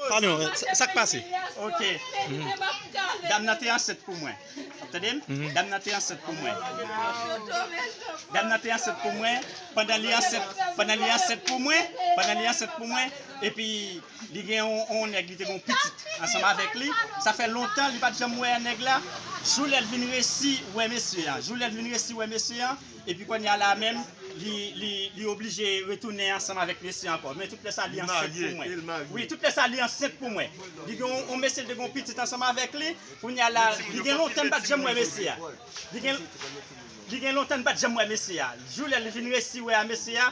Pardon, sak pase? Ok. Dam nan te ansent pou mwen. Wap tande m? Dam nan te ansent pou mwen. Dam nan te ansent pou mwen. Pandan li ansent, pandan li ansent pou mwen, pandan li ansent pou mwen, epi li gen yon yon nèg li te gen yon pitit ansanm avèk li. Sa fè lontan li pat janm wè nèg la. Jou lè l vin resi wè mesye an, jou lè l vin resi wè mesye an, Epi konnya la menm li oblije retounen ansanm avèk mesye ankò men tout lè sa li ansent pou mwen wi tout lè sa li ansent pou mwen li gen yon mesye l te gen yon pitit ansanm avèk li konnya la li gen lontan m pat janm wè mesye a li gen lontan m pat janm wè mesye a jou lè li vin resi wè a mesye a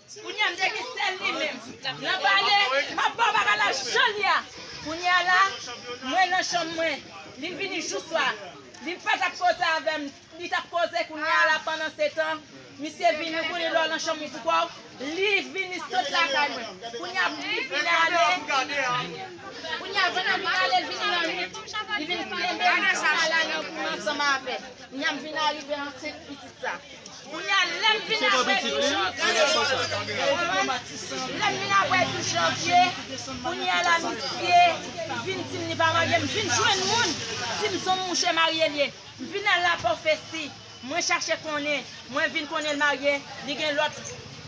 Kounye a m te gen sèl li menm nan pale m ap ba w bagay la jan l ye a Kounye a la mwen nan chanm mwen li vini jou swa li pa t ap koze avè m li t ap koze Kounye a la pandansetan misye vini kounye lè w nan chanm ou pou kò w li vini sot lakay mwen Kounye a li vin ale Kounye a pandan l vin ale l vini lannuit li vin kenbe m jan m ale ansanm avè l Kounye a m vin arive ansent pitit sa. Kounya lè m vin apre 12 janvye Lè m vin apre 12 janvye Kounya la misye vin di m li pa marye M vin jwenn moun di m son mouche marye l ye M vin al la pòfesi Mwen chache konnen Mwen vin konnen l marye Li gen lòt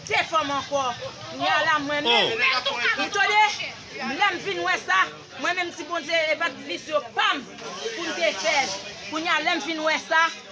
2 fanm ankò Kounya la mwen menm Ou tande Lè m vin wè sa Mwen menm m di Bondye e pa t visyo pa m pou m te fè l Kounya lè m vin wè sa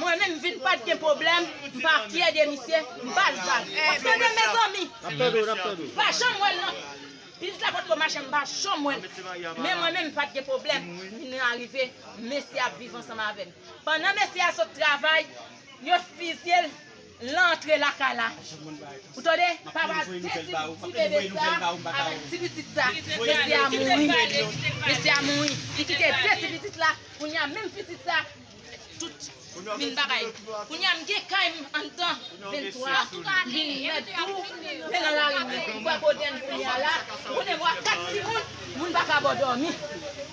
Mwen menm vin pat gen pwoblèm m pa fyè de misye m pa lval wap tande mezanmi pa janm wèl nan biz la potko mache m pa janm wèl men mwen menm pat gen pwoblèm vin arive mesye ap viv ansanm avèm pandan mesye a sot travay yo fizyel Lan antre lakay la ou tande papa detwi ti bebe sa avèk ti pitit sa mesye a mouri mesye a mouri li kite 2 ti pitit la kounya menm pitit sa tout min bagay kounya m gen kay m anndan 23 m vin mèt tou men nan lari m ou kwè kote m kounya la ou konnen m wè 4 timoun moun pa ka bo dòmi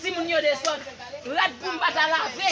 timoun yo desòd rad pou m pa ta lave.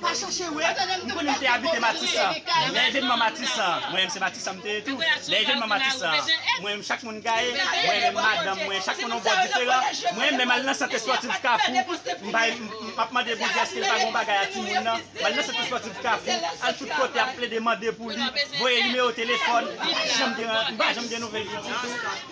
Pa chache we, m konnen m te abite matisan, lè evenman matisan, mwen menm se matisan m te ye tou, lè evenman matisan, mwen menm chak moun gaye, mwen menm madanm mwen, chak moun on bò diferan, mwen menm al nan sant espòtif kafou, m ap mande Bondye eske li pa gen on bagay a timoun nan, m al nan sant espòtif kafou, al tout kote ap plede mande pou li, voye nimewo telefòn, m pa janm gen nouvèl li ditou.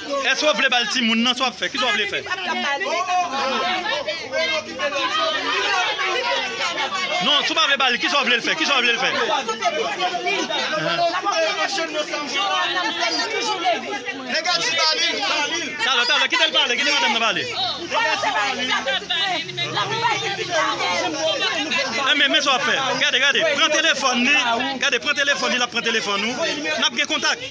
Eske w vle bal timoun nan sa wap fè kisa w vle fè. Non si w pa vle bal li kisa w vle l fè kisa w vle l fè. Talè talè kite l pale kite madanm nan pale. Enben men sa wap fè gade gade pran telefòn li gade pran telefòn li lap pran telefòn ou nap gen kontak.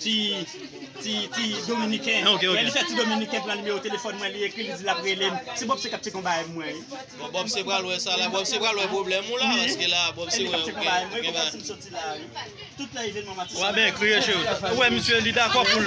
ti ti ti dominiken Ok, ok. lè li fè ti dominiken pran nimewo telefòn mwen li ekri li di lap relem se Bob se kap ti konba avèk mwen wi Bon Bob se pral wè sa la, Bob se pral wè problèm ou la, paske la Bob se wè gen gen ba. Tout lè evenman matissan. Wap ekri yo cheri. Ou wè misye li dakò poul.